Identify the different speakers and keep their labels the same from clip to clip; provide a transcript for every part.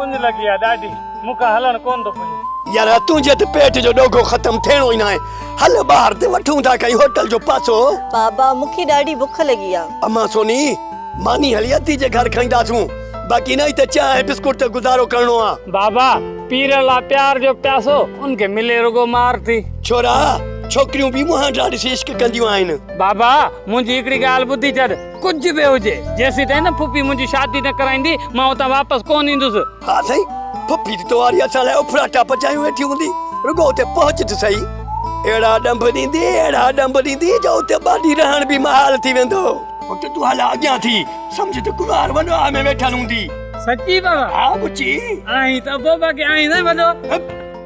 Speaker 1: اڃ لڳي آ ڏاڍي، مون کان هلڻ ڪون ٿو پڄي. يار تنهنجي
Speaker 2: ته پيٽ جو ڏوگهو ختم ٿيڻو ئي ناهي. هل ٻاهر تي وٺون ٿا ڪنهن هوٽل جو پاسو. بابا مون کي
Speaker 3: ڏاڍي بک لڳي آ. امان سوني
Speaker 2: ماني هلي ادي جي گهر کائينداسون باقي نه هتي چانهه ۽ بسڪوٽ تي گذارو ڪرڻو آ. بابا پيرن
Speaker 1: لا پيار جو پياسو ان کي ملي رڳو مار ٿي. ڇورا
Speaker 2: ڇوڪريون به مهانڊا ڏسي عشق ڪنديون آهن. بابا منهنجي
Speaker 1: هڪڙي ڳالهه ٻڌي ڇڏ. ڪجهه به هجي، جيسيتائين نه ڦڦي منهنجي شادي نه ڪرائيندي، مان هتان واپس ڪونه ايندس. ها سائين،
Speaker 2: ڦڦي ته توهان واري اسان لاء اڦراٽا پچايون ويٺي هوندي، رڳو اتي پهچ ته سهي. اهڙا ڏنڀ ڏيندي، اهڙا ڏنڀ ڏيندي جو اتي ٻه ڏينهن رهڻ به محال ٿي ويندو. پٽ تون هالا اڳيان ٿي، سمجهه ته ڪنوار وڏو آء ۾ ويٺل هوندي. سچي بابا؟
Speaker 1: ها ٻچي.
Speaker 2: آهين ته ابوبڪر
Speaker 1: آهين نه وڏو.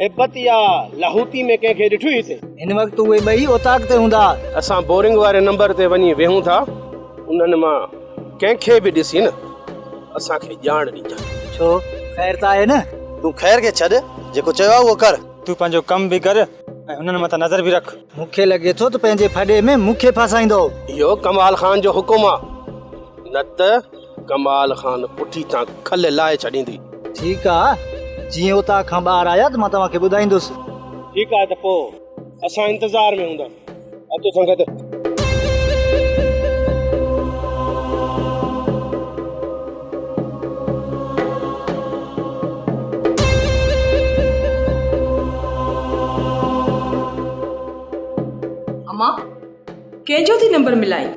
Speaker 4: هيبت يا لاهوتي ۾ ڪنهن کي ڏٺوئي هتي؟ هن وقت اهي ٻئي
Speaker 1: اوطاق تي هوندا. اسان بورنگ واري
Speaker 4: نمبر تي وڃي ويهون ٿا. انهن مان ڪنهن کي به ڏسين نه اسان کي ڄاڻ ڏجانء. ڇو؟ خير
Speaker 1: ته آهي نه؟ تون خير کي ڇڏ،
Speaker 5: جيڪو چيو آهي اهو ڪر. تون پنهنجو ڪم به
Speaker 1: ڪر ۽ هنن مٿان نظر به رک. مون کي لڳي ٿو ته پنهنجي ڦڏي ۾ مون کي ڦاسائيندو. اهو ڪمال
Speaker 4: خان جو حڪم آهي نه ته. ڪمال خان پٺي تان کل لاهي ڇڏيندي. ٺيڪ آ،
Speaker 1: جيئن اوطاق کان ٻاهر آيا ته مان توهان کي ٻڌائيندس. ٺيڪ آ ته
Speaker 4: پوء اسان انتظار ۾ هونداسين. اچو سنگت!
Speaker 6: امان! ڪنهن جو ٿي نمبر ملائين.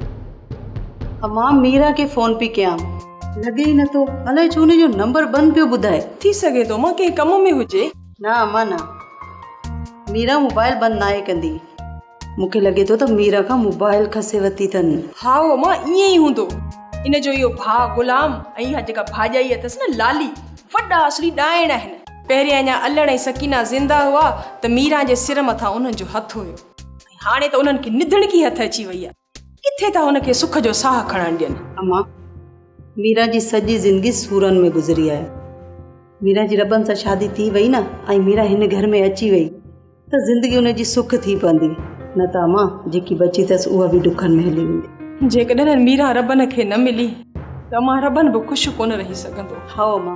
Speaker 3: امان ميرا کي فون پي ڪيان. لڳي ئي نٿو. الائي ڇو ان جو نمبر بند پيو ٻڌائي. ٿي سگهي ٿو امان ڪنهن
Speaker 6: ڪم ۾ هجي. نه امان نه.
Speaker 3: ميرا موبائل بند ناهي ڪندي. مون کي لڳي ٿو ته ميرا کان موبائل کسي ورتي اٿن. هائو امان ائين
Speaker 6: ئي هوندو. ان جو اهو ڀاء غلام ۽ اها جيڪا ڀاڄائي اٿس نه لالي وڏا اصلي ڏائڻ آهن. پهرين اڃا الڙ ۽ سڪينا زنده هئا ته ميرا جي سر مٿان انهن جو هٿ هيو. هاڻي ته انهن کي نڌڻڪي هٿ اچي وئي آهي. ڪٿي ٿا هن کي سک جو ساهه کڻڻ ڏين. اما،
Speaker 3: ميرا جي سڄي زندگي سورن ۾ گذري آهي. ميرا جي ربن سان شادي ٿي وئي نه ۽ ميرا هن گهر ۾ اچي وئي ته زندگي ان جي سک ٿي پوندي. نه ته اما، جيڪي بچي اٿس اها به ڏکن ۾ هلي ويندي. جيڪڏهن ميرا ربن
Speaker 6: کي نه ملي ته اما ربن به خوش ڪونه رهي سگهندو. هائو اما.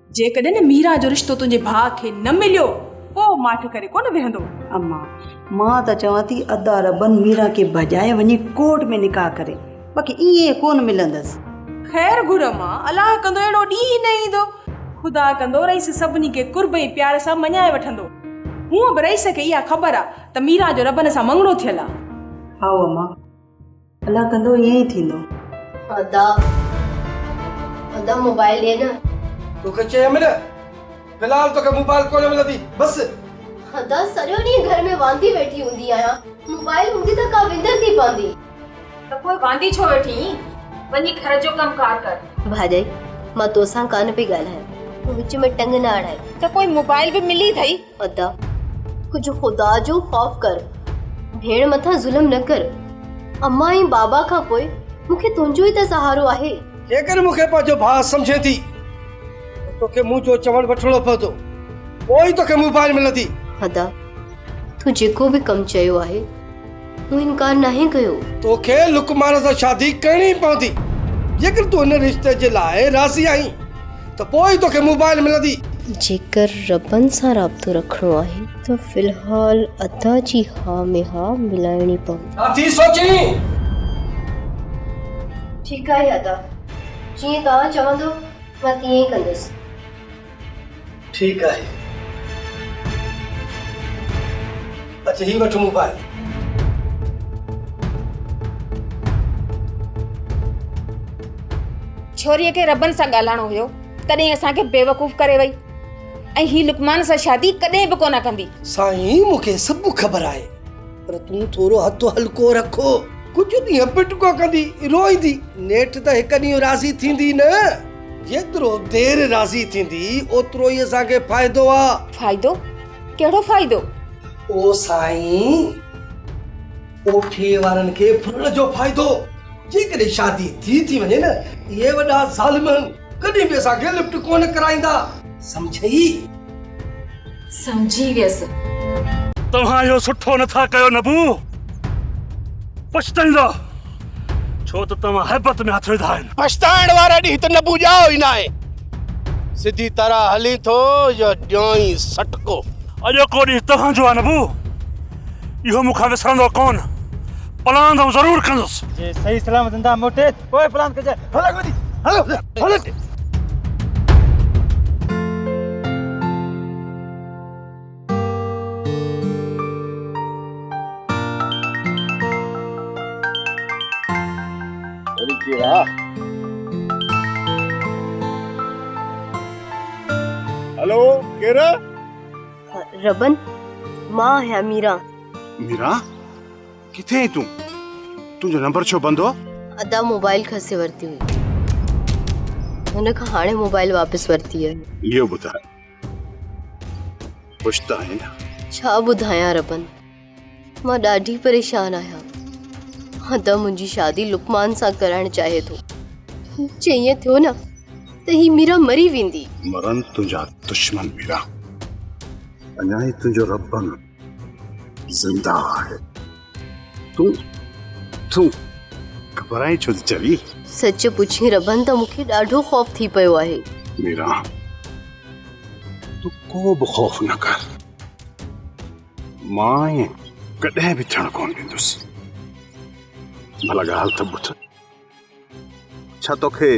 Speaker 3: جيڪڏهن ميرا
Speaker 6: جو رشتو تنهنجي ڀاء کي نه مليو پوء ماٺ ڪري ڪونه ويهندو. اما،
Speaker 3: مان ته چوان ٿي ادا ربن ميرا کي ڀڄائي وڃي ڪورٽ ۾ نڪاح ڪري باقي ائين ڪونه ملندس. خير گهر
Speaker 6: اما، الله ڪندو اهڙو ڏينهن ئي نه ايندو. خدا ڪندو رئيس سڀني کي قرب ۽ پيار سان مڃائي وٺندو. هونئن به رئيس کي اها خبر آ ته ميرا جو ربن سان مڱڻو ٿيل آ. هائو اما.
Speaker 3: الله ڪندو ائين ئي ٿيندو. ادا
Speaker 7: ادا موبائل ڏي نه. توکي چيم
Speaker 5: نه في الحال توکي موبائل ڪونه ملندي بس. ادا سڄو
Speaker 7: ڏينهن گهر ۾ واندي ويٺي هوندي آهيان موبائل هوندي ته ڪا وندر ٿي پوندي. ته پوء
Speaker 6: واندي ڇو ويٺي اينء وڃي گهر جو ڪم ڪار ڪر. ڀاڄائي مان
Speaker 7: توسان ڪانه پئي ڳالهايان تون وچ ۾ ٽنگ نه اڙائي. ته پوء موبائل به
Speaker 6: ملي اٿئي. ادا!
Speaker 7: ڪجهه خدا جو خوف ڪر، ڀيڻ مٿان ظلم نه ڪر. امان ۽ بابا کان پوء مون کي تنهنجو ئي ته سهارو آهي. جيڪڏهن مون کي پنهنجو
Speaker 5: ڀاء سمجهين ٿي ته توکي مون جو چوڻ وٺڻو پوندو، پوء ئي توکي مون ڀائر ملندي. ادا!
Speaker 7: تو جيڪو به ڪم چيو آهي، تون انڪار ناهي ڪيو. توکي لقمان
Speaker 5: سان شادي ڪرڻي ئي پوندي. جيڪر تون ان رشتي جي لاء راضي آهين ته پوء ئي توکي موبائل ملندي. جيڪر
Speaker 7: ربن سان رابطو رکڻو آهي ته في الحال ادا جي ها ۾ ها ملائڻي پوندي. ڇا ٿي سوچين؟ ٺيڪ آهي ادا. جيئن توهان چوندو مان تيئن ئي ڪندس.
Speaker 5: ٺيڪ آهي. اچ هي وٺ موبائل.
Speaker 8: ڇوريء کي ربن سان ڳالهائڻو هيو تڏهن اسان کي بيوقوف ڪري وئي ۽ هي لقمان سان شادي ڪڏهن به ڪونه ڪندي. سائين مون کي
Speaker 5: سڀ خبر آهي. پر تون ٿورو هٿ هلڪو رکو. ڪجهه ڏينهن پٽڪو ڪندي، روئيندي، نيٺ ته هڪ ڏينهن راضي ٿيندي نه؟ جيترو دير راضي ٿيندي، اوترو ئي اسان کي فائدو آ. فائدو؟
Speaker 8: ڪهڙو فائدو؟ او
Speaker 5: سائين! ڪوٺي وارن کي ڦرڻ جو فائدو. جيڪڏهن شادي ٿي ٿي وڃي نه، اهي وڏا ظالم ڪڏهن به اسان کي لفٽ ڪونه ڪرائيندا. سمجهيئي؟
Speaker 8: سمجهي ويس. توهان
Speaker 9: اهو سٺو نه ٿا ڪيو نبو. پڇتائيندا ڇو ته توهان هيبت ۾ هٿ وڌا آهن. پڇتائڻ واري ڏينهن تي
Speaker 4: نبو ڄائو ئي ناهي. سڌي طرح هلين ٿو يا ڏيانئين سٽڪو. اڄوڪو ڏينهن
Speaker 9: توهان جو آهي نبو. اهو مون کان وسرندو ڪونه. پلاند آئون ضرور ڪندس. جي صحيح سلامت زنده
Speaker 10: موٽي. پوء
Speaker 4: پلان ڪجي هل اڳ وڌي هل هل هلو ڪير
Speaker 7: ربن مان آهيان ميرا ميرا
Speaker 11: ڪٿي آهين تون تنهنجو نمبر ڇو بند هو ادا موبائل
Speaker 7: کسي ورتي هئي هن کان هاڻي موبائل واپس ورتي آهي اهو ٻڌاء
Speaker 11: خوش ته آهين ڇا ٻڌايان ربن
Speaker 7: مان ڏاڍي پريشان آهيان ادا منهنجي شادي لقمان سان ڪرائڻ چاهي ٿو جي ائين ٿيو نه ته هي ميرا مري ويندي مرن تنهنجا
Speaker 11: دشمن ميرا اڃا هي تنهنجو ربن زنده آهي تون تون گھبرائين ڇو ٿي چوي سچ پڇين
Speaker 7: ربن ته مون کي ڏاڍو خوف ٿي پيو آهي ميرا
Speaker 11: تون ڪو به خوف نه ڪر مان ائين ڪڏهن به ٿيڻ ڪونه ڏيندس ڀلا ڳالهه ته ٻڌ ڇا توکي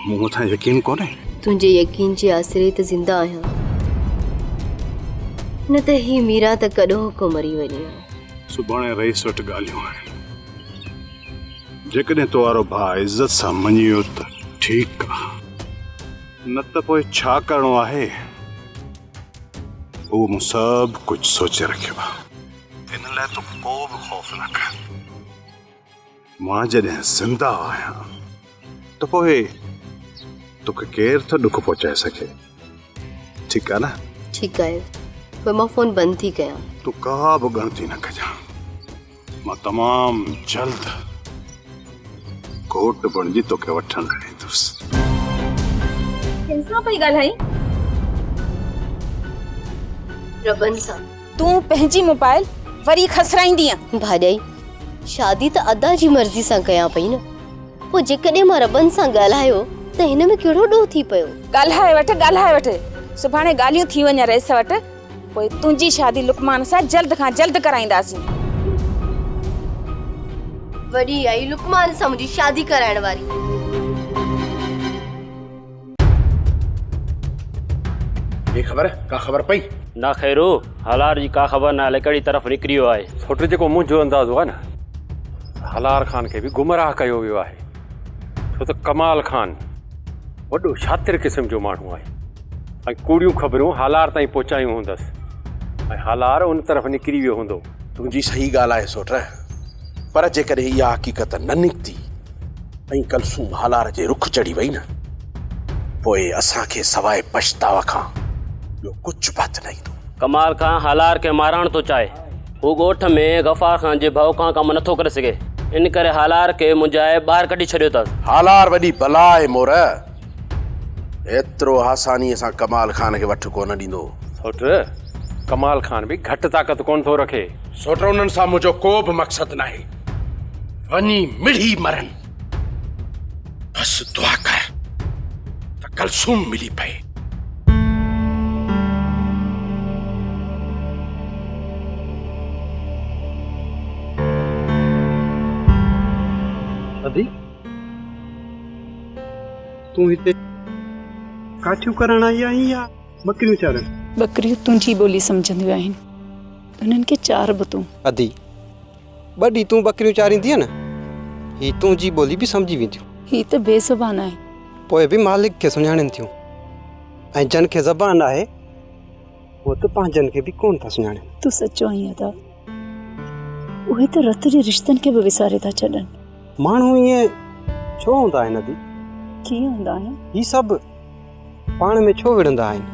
Speaker 11: مون مٿان يقين ڪونهي تنهنجي يقين
Speaker 7: جي آسري ته زنده آهيان نه ته هي ميرا ته ڪڏهو ڪو مري وڃي ها سڀاڻي رئيس
Speaker 11: وٽ ڳالهيون آهن جيڪڏهن تو وارو ڀاء عزت سان مڃي ويو ته ٺيڪ آ نه ته پوء ڇا ڪرڻو آهي هو مون سڀ ڪجهه سوچي رکيو آ ان لاء تو ڪو به خوف نه ڪر مان جڏهن زنده آهيان ته پوء توکي ڪير ٿو ڏک پهچائي سگهي ٺيڪ آهي نه ٺيڪ آهي
Speaker 7: پوء مان فون بند ٿي ڪيان تون ڪا به
Speaker 11: ڳڻتي نه ڪجان مان تمام جلد گهوٽ بڻجي توکي وٺڻ لاء ايندس ڪنهن سان پئي ڳالهائين ربن سان
Speaker 7: تون پنهنجي
Speaker 8: موبائل وري کسرائيندينء. ڀاڄائي،
Speaker 7: شادي ته ادا جي مرضي سان ڪيان پئي نه، پوء جيڪڏهن مان ربن سان ڳالهايو ته هن ۾ ڪهڙو ڏوهه ٿي پيو؟ ڳالهائي وٺ، ڳالهائي
Speaker 8: وٺ، سڀاڻي ڳالهيون ٿي وڃن رئيس وٽ، پوء تنهنجي شادي لقمان سان جلد کان جلد ڪرائينداسين.
Speaker 7: وڏي آهي لقمان سان منهنجي شادي ڪرائڻ واري.
Speaker 4: ڪي خبر ڪا خبر پئي. نه خيرو
Speaker 12: هالار جي ڪا خبر ناهي الئي ڪهڙي طرف نڪريو آهي. سوٽ جيڪو منهنجو
Speaker 13: اندازو آهي نه هالار خان کي به گمراهه ڪيو ويو آهي ڇو ته ڪمال خان وڏو شاطر قسم جو ماڻهو آهي ۽ ڪوڙيون خبرون هالار تائين پهچايون هوندس ۽ هالار ان طرف نڪري ويو هوندو. تنهنجي صحيح ڳالهه
Speaker 4: آهي سوٽ پر جيڪڏهن اها حقيقت نه نڪتي ۽ ڪلثوم هالار جي رخ چڙهي وئي نه، پوء اسان کي سواء پڇتاء کان ٻيو ڪجهه به هٿ نه ايندو. ڪمال خان هالار
Speaker 12: کي مارڻ ٿو چاهي. هو ڳوٺ ۾ غفار خان جي ڀؤ کان ڪم نٿو ڪري سگهي. ان ڪري هالار کي منجهائي ٻاهر ڪڍي ڇڏيو اٿس. هالار وڏي بلا
Speaker 4: آهي مورئه. ايترو آسانيء سان ڪمال خان کي وٺ ڪو نه ڏيندو. سوٽ،
Speaker 13: ڪمال خان به گهٽ طاقت ڪونه ٿو رکي. سوٽ، انهن سان
Speaker 4: منهنجو ڪو به مقصد ناهي. وڃي مڙهي مرن بس دعا ڪر ته ڪلثوم ملي پئي ادي
Speaker 14: تون هتي ڪاٺيون ڪرڻ آئي آهين يا ٻڪريون چارڻ ٻڪريون تنهنجي
Speaker 15: ٻولي سمجهنديون آهن انهن کي چار به تون ادي
Speaker 14: ٻه ڏينهن تون ٻڪريون چاريندينء نه، هي تنهنجي ٻولي به سمجهي وينديون. هي ته بي زبان
Speaker 15: آهن. پوء به مالڪ
Speaker 14: کي سڃاڻين ٿيون ۽ جن کي زبان آهي، هو ته پنهنجن کي به ڪونه ٿا سڃاڻين. تون سچو آهين ادا.
Speaker 15: اهي ته رت جي رشتن کي به وساري ٿا ڇڏن. ماڻهو ائين
Speaker 14: ڇو هوندا آهن ادي؟ ڪيئن هوندا
Speaker 15: آهن؟ هي سڀ
Speaker 14: پاڻ ۾ ڇو وڙهندا آهن؟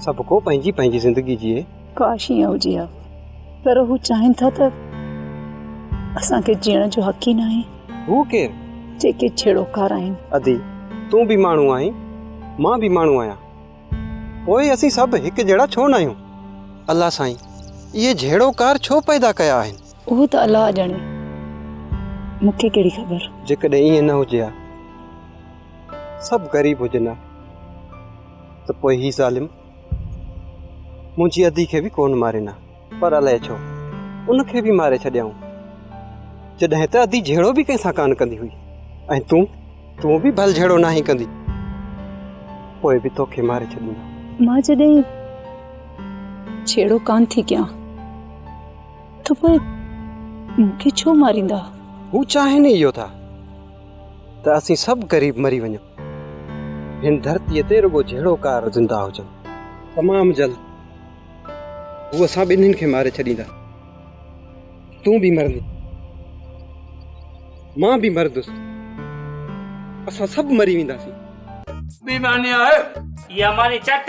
Speaker 14: سڀ ڪو پنهنجي پنهنجي زندگي جيئي. ڪاش ائين هجي ها
Speaker 15: پر هو چاهين ٿا ته اسان کي جيئڻ جو حق ئي ناهي. هو ڪير؟
Speaker 14: جيڪي ڇيڙوڪار
Speaker 15: آهن. ادي تون
Speaker 14: به ماڻهو آهين مان به ماڻهو آهيان پوء اسين سڀ هڪ جهڙا ڇو ناهيون؟ الله سائين اهي جهيڙوڪار ڇو پيدا ڪيا آهن؟ اهو ته الله ڄاڻي
Speaker 15: مون کي ڪهڙي خبر. جيڪڏهن ائين نه هجي
Speaker 14: ها سڀ غريب هجن ها ته پوء هي ظالم. منهنجي ادي کي به ڪونه مارين ها، پر الائي ڇو ان کي به ماري ڇڏيائون، جڏهن ته ادي جهيڙو به ڪنهن سان ڪانه ڪندي هئي ۽ تون، تون به ڀل جهيڙو ناهين ڪندي، پوء به توکي ماري ڇڏيندو. مان جڏهن
Speaker 15: جهيڙو ڪانه ٿي ڪيان ته پوء مون کي ڇو ماريندا؟ هو چاهين
Speaker 14: ئي اهو ٿا. ته اسين سڀ قريب مري وڃون. هن ڌرتيء تي رڳو جهيڙوڪار زنده هجن. تمام جلد هو اسان ٻنهين کي ماري ڇڏيندا. تون به مرندين. مان به مردس. اسان سڀ مري وينداسين. بي معني
Speaker 1: آهي اها معني چٽ.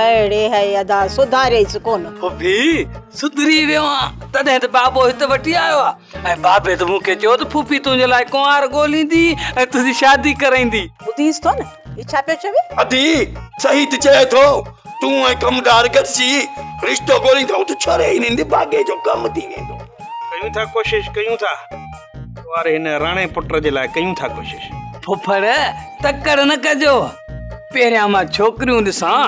Speaker 3: اڙي هي ادا سڌاريس ڪونه. ڀوڀي
Speaker 1: سڌري ويو آهيان تڏهن ته بابو هت وٺي آيو آ ۽ بابي ته مون کي چيو ته ڦوڦي تنهنجي لاء ڪنوار ڳوليندي ۽ تنهنجي شادي ڪرائيندي. ٻڌيس ٿو نه هي
Speaker 3: ڇا پيو چوي. ادي صحيح
Speaker 2: ته چئي ٿو تون ۽ ڪمدار گڏجي رشتو ڳوليندؤ ته ڇوري هنن جي ڀاڳي جو ڪم ٿي ويندو. ڪيون ٿا ڪوشش
Speaker 4: ڪيون ٿا. ڪنوار هن راڻي پٽ جي لاء ڪيون ٿا ڪوشش. ڦڦڙ
Speaker 1: تڪڙ نه ڪجو پهريان مان ڇوڪريون ڏسان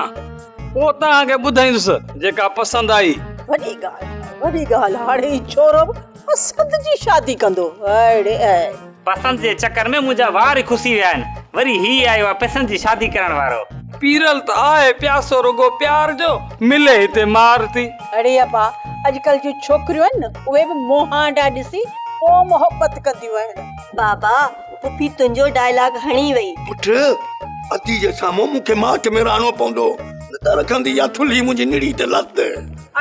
Speaker 1: پوء توهان کي ٻڌائيندس جيڪا پسند آئي. وڏي ڳالهه
Speaker 3: وڏي ڳالهه هاڻي هي ڇورو به پسند جي شادي ڪندو اڙي. پسند
Speaker 1: جي چڪر ۾ منهنجا وار ئي کسي ويا آهن وري هي آيو آهي پسند جي شادي ڪرڻ وارو. پيرل ته آهي پياسو رڳو پيار جو، ملي هتي مار ٿي. اڙي ابا
Speaker 3: اڄڪلھ جون ڇوڪريون آهن نه اهي به مهانڊا ڏسي پوء محبت ڪنديون آهن. بابا
Speaker 16: پڦي تنهنجو ڊائلاگ هڻي وئي. پٺ
Speaker 2: ادي جي سامهون مون کي ماٺ ۾ رهڻو پوندو نه ته رکندي يا ٿلهي منهنجي نڙي تي لت.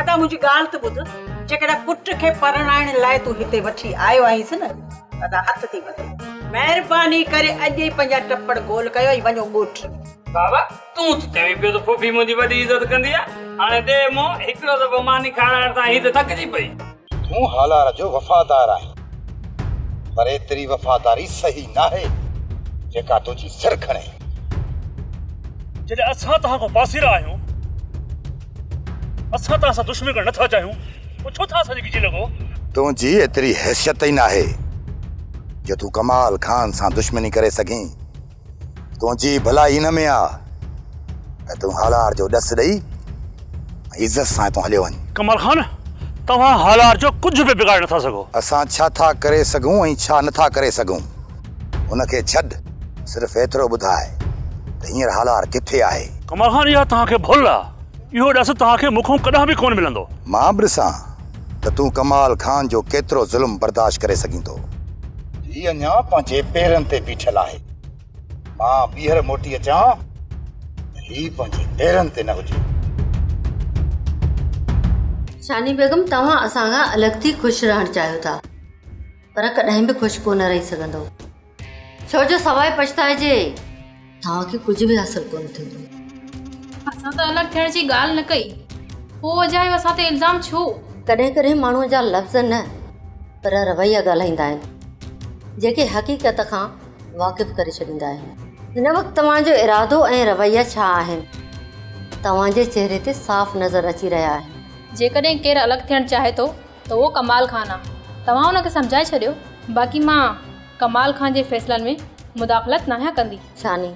Speaker 2: ادا منهنجي ڳالھ
Speaker 3: ته ٻڌ جيڪڏهن پٽ کي پرڻائڻ لاء تون هتي وٺي آيو آهينس نه. ادا هٿ ٿي ٻڌو. مهرباني ڪري اڄ ئي پنهنجا ٽپڙ گول ڪيو ۽ وڃو ڳوٺ. بابا
Speaker 1: تون ته چوين پيو ته ڦوڦي منهنجي وڏي عزت ڪندي آ هاڻي ڏي منهن هڪڙو دفعو ماني کارائڻ تان هي ته ٿڪجي پئي. تون هالار
Speaker 17: جو وفادار آهين پر ايتري وفاداري صحيح ناهي جيڪا تنهنجي سر کڻي. جڏهن
Speaker 9: اسان توهان کان پاسيرا آهيون. اسان توهان سان دشمني ڪرڻ نٿا چاهيون، پوء ڇو ٿا اسان جي
Speaker 17: ڳجهي لڳو؟ تنهنجي ايتري حيثيت ئي ناهي، جو تون ڪمال خان سان دشمني ڪري سگهين. تنهنجي ڀلائي ان ۾ آ، ته تون هالار جو ڏس ڏئي ۽ عزت سان هتان هليو وڃ. ڪمال خان،
Speaker 9: توهان هالار جو ڪجهه به بگاڙي نٿا سگهو. اسان ڇا ٿا ڪري
Speaker 17: سگهون ۽ ڇا نٿا ڪري سگهون؟ ان کي ڇڏ، صرف ايترو ٻڌاء ته هينئر هالار ڪٿي آهي؟ ڪمال خان اها توهان کي
Speaker 9: ڀل آ، اهو ڏس توهان کي مون کان ڪڏهن به ڪونه ملندو. مان به ڏسان
Speaker 17: ته تون ڪمال خان جو ڪيترو ظلم برداشت ڪري سگهين ٿو. هي اڃا پنهنجي پيرن تي بيٺل آهي، مان ٻيهر موٽي اچان ته هي پنهنجي پيرن تي نه هجي.
Speaker 7: شاني بيگم، توهان اسان کان الڳ ٿي خوش رهڻ چاهيو ٿا. پر ڪڏهن به خوش ڪونه رهي سگهندو ڇو جو سواء پڇتائجي توهان کي ڪجهه به حاصل ڪونه ٿيندو اسان
Speaker 18: ته الڳ ٿيڻ جي ڳالهه نه ڪئي پوء اجايو اسان تي الزام ڇو ڪڏهن ڪڏهن ماڻهو
Speaker 7: جا لفظ نه پر رويا ڳالهائيندا آهن جيڪي حقيقت کان واقف ڪري ڇڏيندا آهن هن وقت توهان جو ارادو ۽ رويا ڇا آهن توهان جي چهري تي صاف نظر اچي رهيا آهن جيڪڏهن ڪير الڳ ٿيڻ
Speaker 18: چاهي ٿو ته اهو ڪمال خان آ توهان ان کي سمجهائي ڇڏيو باقي مان ڪمال خان جي فيصلن ۾ مداخلت ناهيان ڪندي. ثاني،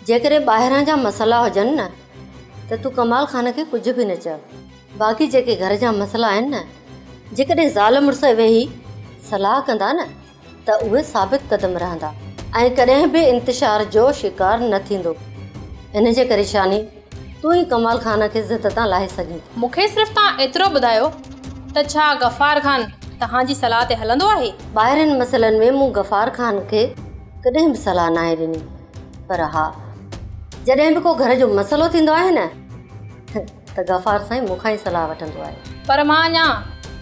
Speaker 7: جيڪڏهن ٻاهران جا مسئلا هجن نه ته تون ڪمال خان کي ڪجهه به نه چئو باقي جيڪي گهر جا مسئلا آهن نه جيڪڏهن زال مڙس ويهي صلاح ڪندا نه ته اهي ثابت قدم رهندا ۽ ڪڏهن به انتشار جو شڪار نه ٿيندو. ان جي ڪري شاني تون ئي ڪمال خان کي ضد تان لاهي سگهين ٿي. مون کي صرف توهان
Speaker 18: ايترو ٻڌايو ته ڇا غفار خان توهان جي صلاح تي هلندو آهي؟ ٻاهرين مسئلن ۾
Speaker 7: مون غفار خان کي ڪڏهن به صلاح ناهي ڏني پر ها جڏهن به ڪو گهر جو مسئلو ٿيندو آهي نه ته ته غفار سائين مون کان ئي صلاح وٺندو آهي. پر مان اڃا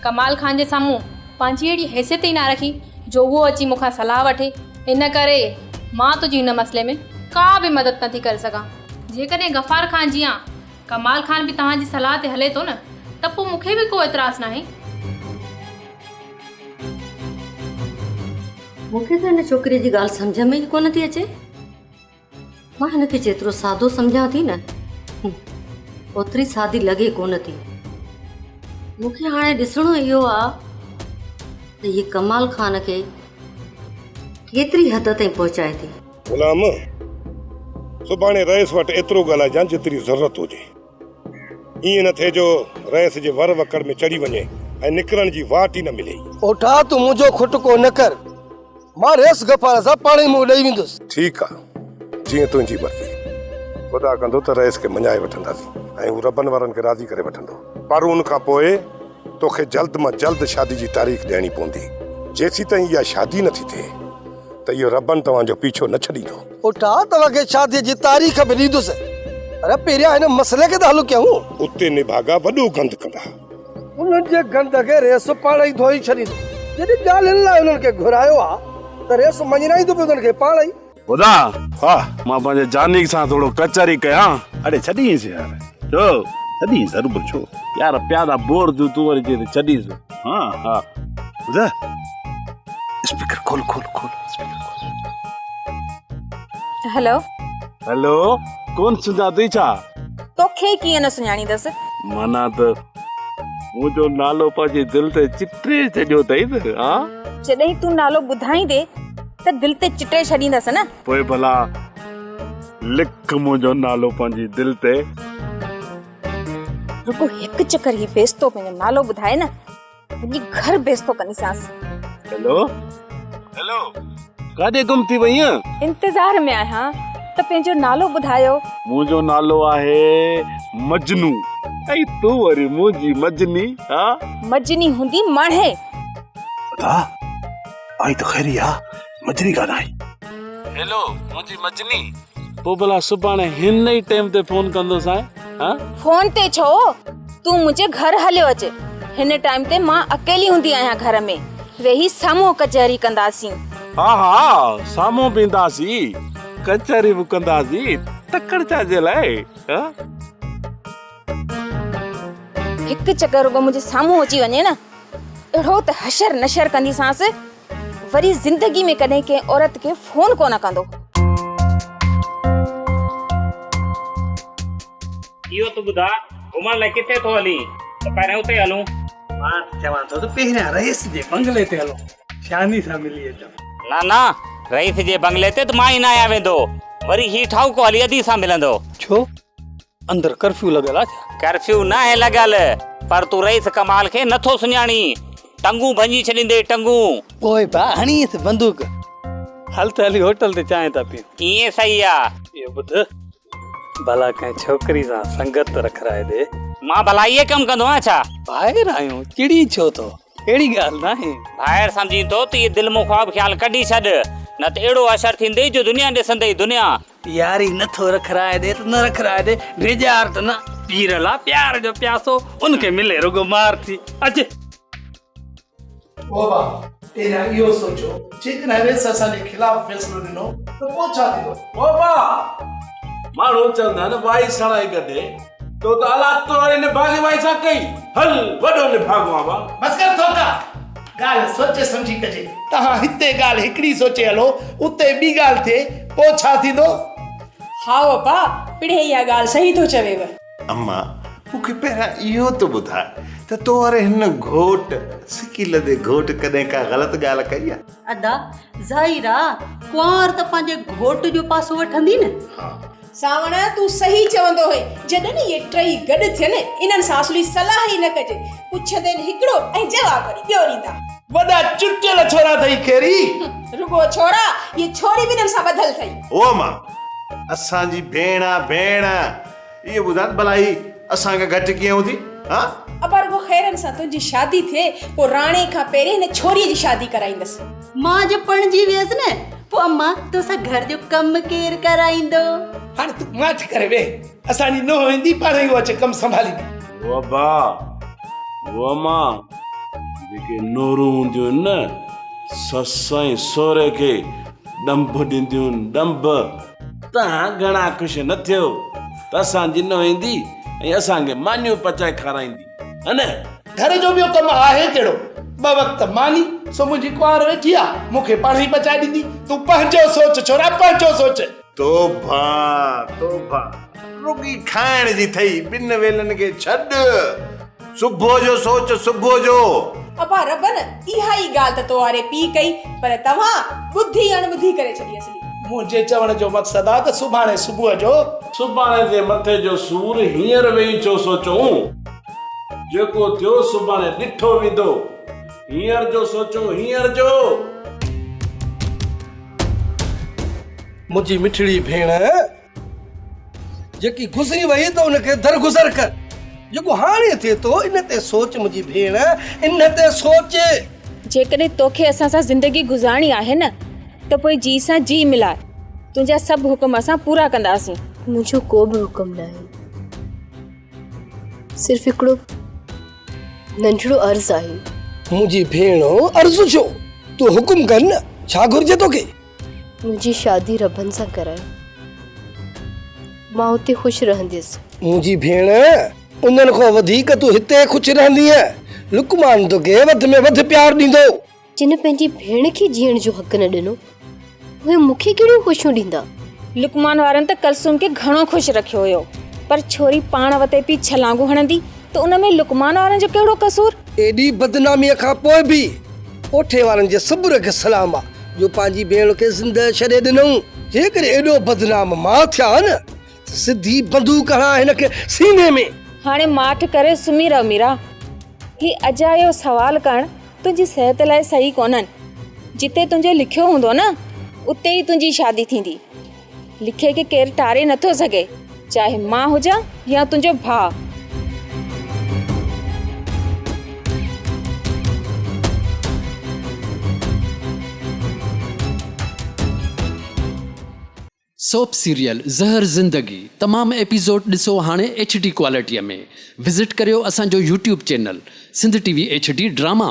Speaker 18: ڪمال خان جي سامهون پنهنجي اهڙي حيثيت ئي نه رکي جو اهو اچي مون کان صلاح وٺي، ان ڪري مان تنهنجي هن مسئلي ۾ ڪا به مدد نه ٿي ڪري سگهان. جيڪڏهن غفار خان جيان ڪمال خان به توهان جي صلاح تي هلي ٿو نه ته پوء مون کي به ڪو اعتراض ناهي. مون کي ته هن ڇوڪريء جي ڳالهه
Speaker 7: سمجهه ۾ ئي ڪونه ٿي اچي. مان هن کي جيترو سادو سمجهان ٿي نه اوتري سادي لڳي ڪونه ٿي مون کي هاڻي ڏسڻو اهو آهي ته هي ڪمال خان کي ڪيتري حد تائين پهچائي ٿي غلام
Speaker 19: سڀاڻي رئيس وٽ ايترو ڳالهائجان جيتري ضرورت هجي. ائين نه ٿئي جو رئيس جي ور وڪڙ ۾ چڙهي وڃي ۽ نڪرڻ جي واٽ ئي نه ملي. پوٺا تون منهنجو
Speaker 5: کٽڪو نه ڪر. مان رئيس غفار سان پاڻ ئي منهن ڏئي ويندس. ٺيڪ آ
Speaker 19: جيئن تنهنجي مرضي. خدا ڪندو ته رئيس کي مڃائي وٺنداسين ۽ هو ربن وارن کي راضي ڪري وٺندو. پر ان کان پوء توکي جلد مان جلد شادي جي تاريخ ڏيڻي پوندي. جيسيتائين اها شادي نه ٿي ٿئي ته اهو ربن توهان جو پيڇو نه ڇڏيندو. اٺا توهان کي
Speaker 5: شاديء جي تاريخ به ڏيندس پر پهريان هن مسئلي کي ته حل ڪيون. اتي نڀاڳا
Speaker 19: وڏو گند ڪندا. انهن جي
Speaker 5: گند کي ريس پاڻ ئي ڌوئي ڇڏيندو. جڏهن ڳالهين لاء انهن کي گهرايو ها ته ريس مڃرائيندو به انهن کي پاڻ ئي. خدا! ها!
Speaker 11: مان پنهنجي جانيڪ سان ٿورو ڪچهري ڪيان. اڙي ڇڏينس يار. ڇو ڇڏينس؟ هربل ڇو؟ يار پيادا بور ٿيون تون وري چين ٿي ڇڏينس. ها ها ٻڌاء اسپيڪر کول کول کول اسپيڪر کول
Speaker 8: هلو هلو
Speaker 11: ڪون سڃاتي ڇا توکي ڪيئن
Speaker 8: نه سڃاڻيندس مانا ته
Speaker 11: منهنجو نالو پنهنجي دل تي چٽي ڇڏيو اٿئي نه ها جڏهن تون نالو
Speaker 8: ٻڌائيندي ته دل تي چٽي ڇڏيندس نه پوء ڀلا
Speaker 11: لک منهنجو نالو پنهنجي دل تي
Speaker 8: رڳو هڪ چڪر هي بيستو پنهنجو نالو ٻڌائي نه وڃي گهر بيستو ڪنديسانس هلو
Speaker 11: هلو ڪاڏي گم ٿي وئي آهين انتظار ۾ آهيان
Speaker 8: ته پنهنجو نالو ٻڌايو منهنجو نالو
Speaker 11: آهي مجنو اي تو وري منهنجي مجني ها مجني هوندي
Speaker 8: ماڻهي ادا
Speaker 11: آئي ته خيري آ مجني ڪانه آئي. هيلو منهنجي مجني. پوء ڀلا سڀاڻي هن ئي ٽيم تي فون ڪندوسانء ها. فون تي ڇو
Speaker 8: تون منهنجي گهر هليو اچ هن ٽائيم تي مان اڪيلي هوندي آهيان گهر ۾ ويهي سامهون ڪچهري ڪنداسين. ها ها
Speaker 11: سامهون به اينداسين ڪچهري به ڪنداسين تڪڙ ڇا جي لاء ها.
Speaker 8: هڪ چڪر رڳو منهنجي سامهون اچي وڃي نه اهڙو ته حشر نشر ڪنديسانس. وري زندگي ۾ ڪڏهن ڪنهن عورت کي فون ڪونه ڪندو هو. اهو
Speaker 1: ته ٻڌاء گهمڻ لاء ڪٿي ٿو هلين ته پهريان اتي هلون. مان ته چوان
Speaker 10: ٿو ته پهريان رئيس جي بنگلي تي هلون شاني سان ملي اچون. نه نه
Speaker 1: رئيس جي بنگلي تي ته مان ئي نه آهيان ويندو وري هي ٺاهوڪو هلي ادي سان ملندو. ڇو؟
Speaker 10: اندر ڪرفيو لڳل آ ڇا؟ ڪرفيو ناهي
Speaker 1: لڳل پر تون رئيس ڪمال کي نٿو سڃاڻين. ٽنگون ڀڃي ڇڏيندين ٽنگون. پوء با
Speaker 10: هڻيس بندوق. هل ته هلي هوٽل تي چانهه ٿا پيون. ائين صحيح آ.
Speaker 1: اهو ٻڌ
Speaker 10: ڀلا ڪنهن ڇوڪري سان سنگت رکرائي ڏي. مان ڀلا اهي ڪم
Speaker 1: ڪندو آهيان ڇا؟ ڀائر آهيون
Speaker 10: چڙين ڇو ٿو اهڙي ڳالهه ناهي. ڀائر سمجهين ٿو
Speaker 1: ته اهي دل مان خواب خيال ڪڍي ڇڏ نه ته اهڙو حشر ٿيندئي جو دنيا ڏسندئي دنيا. پياري نه ٿو
Speaker 10: رک راء ڏي ته نه رک راء ڏي ڊيڄار ته نه پير لا پيار جو پياسو ان کي ملي رڳو مار ٿي اچ. بابا پهريان اهو سوچو جيڪڏهن
Speaker 5: ريس اسان جي خلاف فيصلو ڏنو ته پوء ڇا ٿيندو؟ بابا
Speaker 4: ماڻهو چوندا آهن وائي سڻائي گڏي تو ته اولاد تو واري نڀاڳي وائي سان ڪئي هل وڏو نڀاڳو آهان وا. بس ڪر ٿوڪا.
Speaker 5: ڳالهه سوچي سمجهي ڪجي. تهان هتي ڳالهه هڪڙي سوچي هلو، اتي ٻي ڳالهه ٿئي، پوء ڇا ٿيندو؟ هائو
Speaker 6: اپا، پڻهين اها ڳالهه صحيح ٿو چويو. اما،
Speaker 11: مون کي پهريان اهو ته ٻڌاء ته تو واري هن گهوٽ، سڪي لڌي گهوٽ، ڪڏهن ڪا غلط ڳالهه ڪئي آ؟ ادا،
Speaker 3: ظاهر آ، ڪنوار ته پنهنجي گهوٽ جو پاسو وٺندي نه. سانوڻ
Speaker 6: تون صحيح چوندو هئين. جڏھن اھي ٽئي گڏ ٿين انھن سان اصلي صلاح ئي نه ڪجي پڇندين هڪڙو ۽ جواب وري ٻيو ڏيندا. وڏا چٽيل
Speaker 19: ڇورا ٿئي کيري. رڳو ڇورا
Speaker 6: اھي ڇوري به انھن سان ٻڌل ٿئي. هو ماء
Speaker 11: اسان جي ڀيڻ آ ڀيڻ. اھي ٻڌان ڀلا ھي اسان کان گهٽ ڪيئن ھوندي ها. ابا رڳو خيرن
Speaker 6: سان تنھنجي شادي ٿئي پوء راڻي کان پهرين ھن ڇوري جي شادي ڪرائيندس. مان جو پڻجي
Speaker 3: ويس نه پوء امان توسان گهر جو ڪم ڪير ڪرائيندو. هاڻي تون
Speaker 5: ماٺ ڪري ويهه اسان جي نونهن ايندي پاڻهي اهو اچي ڪم سنڀاليندي. هو ابا
Speaker 20: هو امان جيڪي نورون هونديون آهن نه سس ۽ سهري کي ڏنڀ ڏينديون آهن ڏنڀ. توهان گهڻا خوش نه ٿيو ته اسان جي نونهن ايندي ۽ اسان کي مانيون پچائي کارائيندي. ها نه، گهر جو ٻيو ڪم
Speaker 5: آهي ڪهڙو؟ ٻه وقت ماني، سو منهنجي ڪنوار ويٺي آ، مون کي پاڻ ئي پچائي ڏيندي. تون پنهنجو سوچ ڇورا، پنهنجو سوچ. توبه توبه،
Speaker 11: رڳي کائڻ جي ٿئي، ٻن ويلن کي ڇڏ، صبح جو سوچ، صبح جو. ابا ربن،
Speaker 6: اها ئي ڳالهه ته توهان واري پيء ڪئي، پر توهان ٻڌي اڻٻڌي ڪري ڇڏي. منهنجي چوڻ جو
Speaker 5: مقصد آ ته سڀاڻي صبح جو. سڀاڻي جي مٿي
Speaker 20: جو سور هينئر ويهي ڇو سوچون. جيڪو ٿيو سڀاڻي ڏٺو ويندو. هينئر جو سوچون هينئر جو.
Speaker 5: منهنجي مٺڙي ڀيڻ. جيڪي گذري وئي ته ان کي درگذر ڪر جيڪو هاڻي ٿئي ٿو ان تي سوچ منهنجي ڀيڻ ان تي سوچ جيڪڏهن
Speaker 8: توکي اسان سان زندگي گذارڻي آهي نه ته پوء جي سان جي ملاء تنهنجا سڀ حڪم اسان پورا ڪنداسين منهنجو ڪو به
Speaker 21: حڪم ناهي صرف هڪڙو ننڍڙو عرض آهي منهنجي ڀيڻ
Speaker 5: عرض ڇو تون حڪم ڪر نه ڇا گهرجي توکي منهنجي
Speaker 21: شادي ربن سان ڪرايو. مان اتي خوش رهنديس. منهنجي ڀيڻ،
Speaker 5: انهن کان وڌيڪ تون هتي خوش رهندينء. لقمان توکي وڌ ۾ وڌ پيار ڏيندو. جن پنهنجي
Speaker 21: ڀيڻ کي جيئڻ جو حق نه ڏنو، اهي مون کي ڪهڙيون خوشيون ڏيندا؟ لقمان وارن
Speaker 8: ته ڪلثوم کي گهڻو خوش رکيو هيو، پر ڇوري پاڻ وتي پئي ڇلانگون هڻندي. ته ان ۾ لقمان وارن جو ڪهڙو قصور؟ ايڏي بدناميء
Speaker 5: کان پوء به ڪوٺي وارن جي صبر کي سلام آ جو پنهنجي ڀيڻ کي زندهه ڇڏي ڏنئون. جيڪڏهن ايڏو بدنام مان ٿيا ها نه ته سڌي بندوق هڻان هن کي سيني ۾. هاڻي ماٺ ڪري
Speaker 8: سمهي رهه ميرا. هي اجايو سوال ڪرڻ تنهنجي صحت لاء صحيح ڪونهن. جتي تنهنجو لکيو هوندو نه اتي ئي تنهنجي شادي ٿيندي. لکي کي ڪير ٽاري نٿو سگهي چاهي مان هجان يا تنهنجو ڀاء.
Speaker 22: سوپ سيريل زهر زندگي تمام ايپيسوڊ ڏسو هاڻي ايڇ ڊي ڪوالٽيء ۾ وزٽ ڪريو اسان جو YouTube channel Sindh T V H D drama.